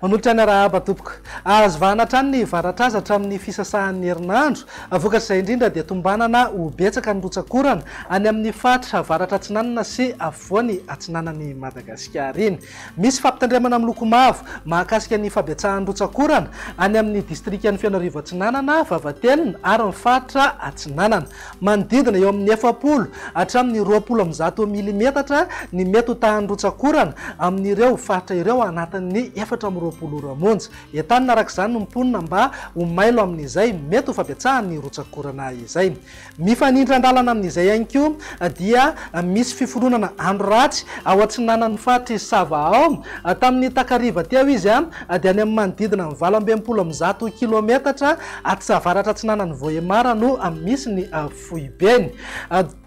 Manolotra ny arahaba tompoko. Azo vahana hatrany ny varatraza hatramin'ny fisasahan'ny herinandro. Vokatr'izay indrindra dia tombanana ho betsaka ny rotsak'orana any amin'ny faritra avaratra atsinanana sy afovoany atsinanan'i Madagasikara iny. Misy fampitandremana miloko mavo mahakasika ny fahabetsahan'ny rotsak'orana any amin'ny distrikan'i Fenoarivo Atsinanana, Vavatelina ary ny faritra Atsinanana. Manodidina eo amin'ny efapolo hatramin'ny roapolo amby zato milimetatra ny mety ho tahan'ny rotsak'orana amin'ireo faritra ireo anatin'ny efatra amby roapolo ora monja. Entanina araka izany ny mponina mba ho mailo amin'izay mety ho fahabetsahan'ny rotsak'orana izay. Mifanindry andalana amin'izay ihany koa dia misy fiforonana andro ratsy ao atsinanan'ny faritr'i Sava ao. Tamin'ny takariva teo izy dia any amin'ny manodidina ny valo amby enimpolo amby zato kilaometatra atsavaratra-atsinanan'i Vohemar no misy ny foibeny.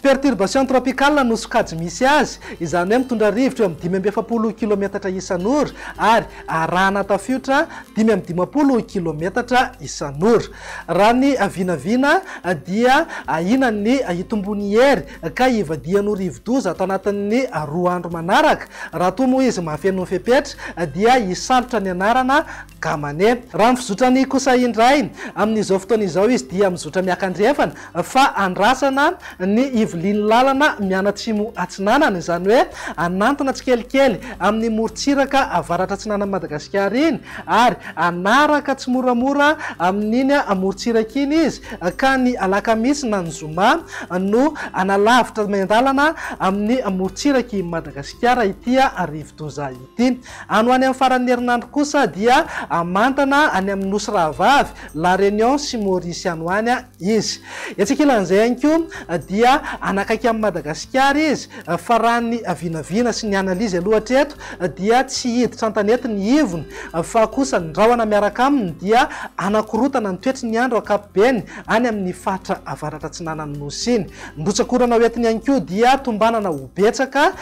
Perturbation tropicale no sokajy misy azy, izany hoe mitondra rivotra eo amin'ny dimy amby efapolo kilaometatra isan'ora ary arahana tafiotra dimy amby dimampolo kilaometatra isan'ora. Raha ny vinavina dia ahiana ny hitomboan'ny hery ka hivadihan'ny ho rivodoza tanatin'ny roa andro manaraka. Raha toa moa izy mahafeno ny fepetra dia hisalotra ny anarana gamane. Raha ny fizotran'ny kosa indray, amin'izao fotoana izao izy dia mizotra miaka andrefana fa andrasana ny ivilian'ny lalana mianatsimo atsinanana, izany hoe hanantona tsikelikely amin'ny morontsiraka avaratra-atsinanan'i Madagasikara iny, ary hanaraka tsimoramora amin'iny morontsiraka iny izy, ka ny alakamisy na ny zoma no hanalavitra miandalana amin'ny morontsiraky i Madagasikara ity rivodoza ity. Any ho any amin'ny faran'ny herinandro kosa dia hamantana any amin'ny Nosy Rahavavy, La Réunion sy Maurice any ho any Izy. Etsy ankilan'izay ihany koa dia hanakaiky an'i Madagasikara izy fa raha ny vinavina sy ny analyse aloha hatreto dia tsy hiditra an-tanety ny ivony fa kosa ny rahona miaraka aminy dia hanakorotana ny toetry ny andro ankapobeny any amin'ny faritra avaratra atsinanan'ny Nosy iny. Rotsak'orana ho entiny ihany koa dia tombanana ho betsaka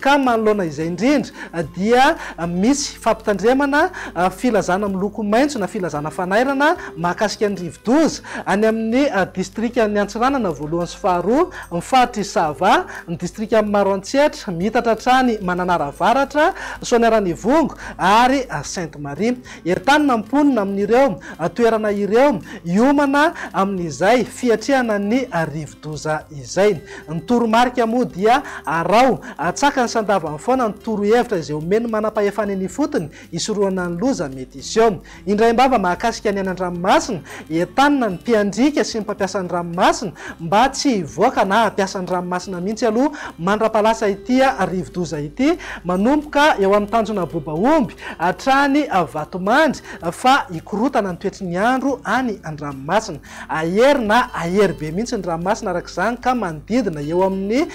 ka manoloana izay indrindra dia misy fampitandremana filazana miloko maitso na filazana fanairana mahakasika ny rivodoza any amin'ny distrikan'ny Antsiranana voalohany sy faharoa, ny faritr'i Sava, ny distrikan'i Maroantsetra, mihitatra hatrany Mananara Avaratra, Soaniaran'Ivongo ary Sainte Marie. Entanina ny mponina amin'ireo toerana ireo hiomana amin'izay fiatrehana ny rivodoza izay. Ny toromarika moa dia araho, atsakany sy andavany foana ny torohevitra izay omen'ny manampahefana eny ifotony hisorohana ny loza mety hiseho. Indraim-bava mahakasika ny any an-dranomasina Entanina ny mpiandriaka sy ny mpampiasa ny ranomasina mba tsy hivoaka na hampiasa ny ranomasina mihitsy aloha mandra-palasa ity rivodoza ity, manomboka eo amin'ny tanjona Bobaomby hatrany Vatomandry fa hikorotana ny toetry ny andro any an-dranomasina. Ahery na ahery be mihitsy ny ranomasina araka izany ka manodidina eo amin'ny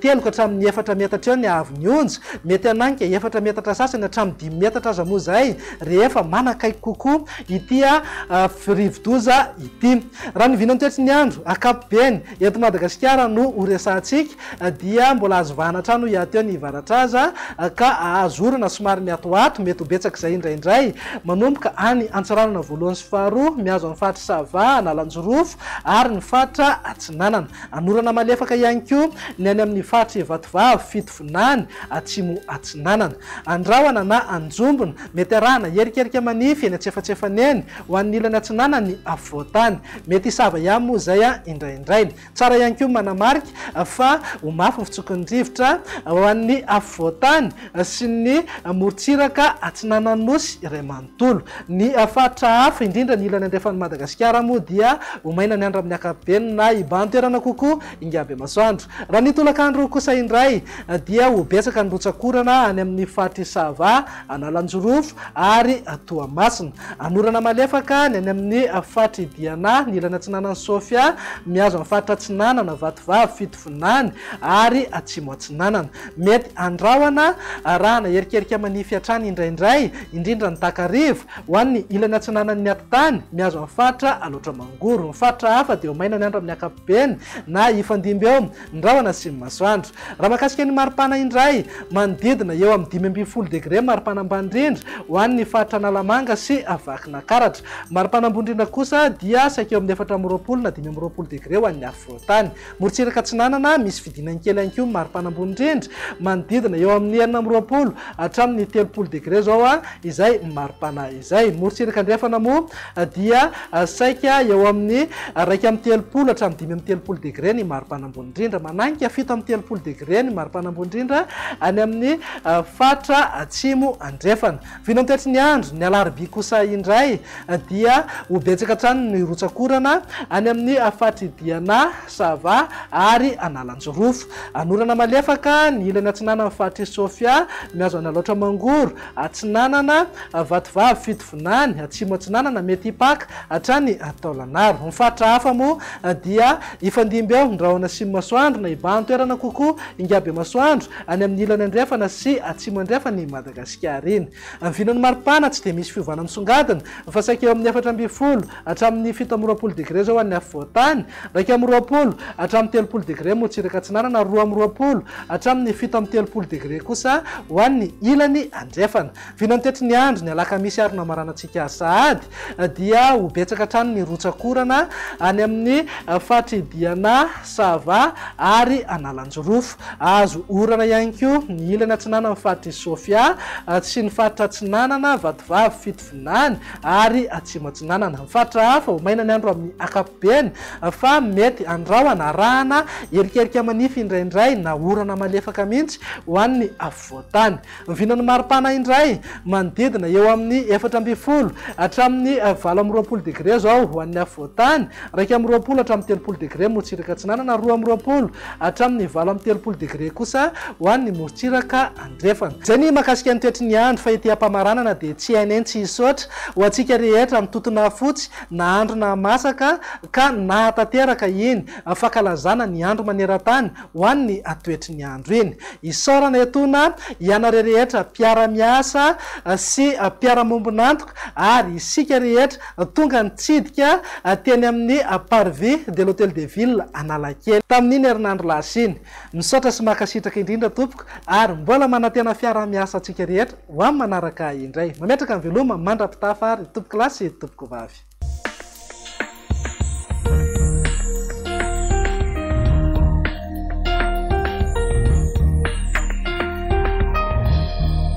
telo ka hatramin'ny efatra metatra eo ny haavon'ny onja, mety hananika efatra metatra sasany hatramin'ny dimy metatra aza moa izay rehefa manakaiky kokoa. ity rivodoza ity. Raha ny vina toetry ny andro ankapobeny eto Madagasikara no ho resahantsika dia mbola azo vahana hatrany hoy aho teo ny varatraza ka azo orana somary miatoato, mety ho betsaka izay indraindray manomboka any Antsiranana voalohany sy faharoa mihazo an'ny faritry Sava, Analanjirofo ary ny faritra Atsinanana. Hanorana malefaka ihany koa ny any amin'ny faritry Ivatovavy, Fitovinany, Atsimo Atsinanana, Andrahona na Anjombona. Mety arahana hierikerika manify eny antsefatsefany eny ho an'ny ilany atsinanana ny afovoan-tany. Mety hisava ihany moa izay indraindray. Tsara ihany koa ny manamarika fa ho mafy ny fitsoky ny rivotra ho an'ny afovoan-tany sy ny morontsiraka atsinanan'ny Nosy iray manontolo. Ny faritra hafa, indrindra ny ilany andrefan'i Madagasikara moa dia ho maina ny andro amin'ny ankapobeny na hibahan-toerana kokoa ingabemasoandro. Raha ny tolakandro kosa indray dia ho betsaka ny rotsak'orana any amin'ny faritr'i Sava Analanjirofo ary Toamasina. Anorana malefaka ny any amin'ny faritry Diana, ny ilany atsinanan'i Sofia, mihazo an'ny faritra atsinanana, Vatovavy, Fitovinany ary Atsimo Atsinanana. Mety handrahona arahana herikerika manify hatrany indraindray, indrindra ny takariva, ho an'ny ilany atsinanan'ny atitany, mihazo an'ny faritra Alaotra Mangoro. Ny faritra hafa dia ho maina ny andro amin'ny ankapobeny na hifandimby eo Ny rahona asian'ny masoandro. Raha mahakasika ny maripana indray, manodidina eo amin'ny dimy ambin'ny folo degre ny maripana ambany indrindra ho an'ny faritra Analamanga sy Vakinankaratra. Maripana ambony indrindra kosa dia saika eo amin'ny efatra amby roapolo na dimy amby roapolo degre ho an'ny afovoantany. Morontsiraka Atsinanana, misy fidinany kely ihany koa ny maripana ambony indrindra, manodidina eo amin'ny enina amby roapolo hatramin'ny telopolo degre izao izay maripana izay. Morontsiraka Andrefana moa, dia saika eo amin'ny iraika amby telopolo hatramin'ny dimy amby telopolo degre ny maripana ambony indrindra, mananika fito amby telopolo degre ny maripana ambony indrindra any amin'ny faritra Atsimo Andrefana. Vinantoetry ny andro, ny alarobia kosa indray dia ho betsaka hatrany ny rotsak'orana any amin'ny faritr'i Diana, Sava ary Analanjirofo. Hanorana malefaka ny ilany atsinanan'ny faritr'i Sofia, mihazo an'Alaotra Mangoro Atsinanana, Vatovavy Fitovinany, Atsimo-Atsinanana, Mety Hipaka, hatrany Taolagnaro. Ny faritra hafa moa dia hifandimby eo, ny rahona Asimo-Masoandro, na Ibahan-toerana kokoa, Ingabemasoandro, any amin'ny ilany andrefana sy atsimo andrefan' i Madagasikara iny. Ny vinan'ny maripana tsy dia misy fiovana misongadina, fa saika eo amin'ny efatra ambin'ny folo hatramin'ny fito amby roapolo degre izao ho an'ny afovoan-tany, iraika amby roapolo hatramin'ny telopolo degre motsiraka atsinanana ary roa amby roapolo hatramin'ny fito amby telopolo degre kosa ho an'ny ilany andrefana. Vinany tetry ny andro, ny alakamisy ary namaranantsika sahady, dia ho betsaka hatrany ny rotsak'orana any amin'ny faritry Diana, Sava ary Analanjirofo. Hahazo orana ihany koa ny ilany atsinanan'ny faritry Sofia sy ny faritra atsinanana, Vatovavy, Atsinanana ary Atsimo Atsinanana. Ny faritra hafa ho maina ny andro amin'ny ankapobeny fa mety any rahona arahana erikerika manify indraindray na orana malefaka mihitsy ho an'ny afovoan-tany. Ny vinan'ny maripana indray manodidina eo amin'ny efatra ambin'ny folo hatramin'ny valo amby roapolo degre izao ho an'ny afovoan-tany, iraika amby roapolo hatramin'ny telopolo degre morotsiraka atsinanana, roa amby roapolo hatramin'ny valo amby telopolo degre kosa ho an'ny morotsiraka andaniny. Drefana. Jenny mahakasika ny toetry ny andro fa ety ampamaranana dia tsy hay nentsy hisaotra ho antsika rehetra mitotona fotsy na andro na masaka ka nahatanteraka iny fankalazana ny andro manerantany ho an'ny toetry ny andro iny. Isaorana etoana ianareo rehetra mpiara-miasa sy mpiara-mombon'antoka ary isika rehetra tonga nitsidika teny amin'ny Parvis de l'Hôtel de Ville Analakely tamin'iny herinandro lasa iny. Misaotra sy mankasitraka indrindra tompoko ary mbola manantena fiaraha miasa antsika rehetra ho am manaraka indray. Mametraka ny veloma mandrapitafa ary tompoko lahy sy tompoko vavy.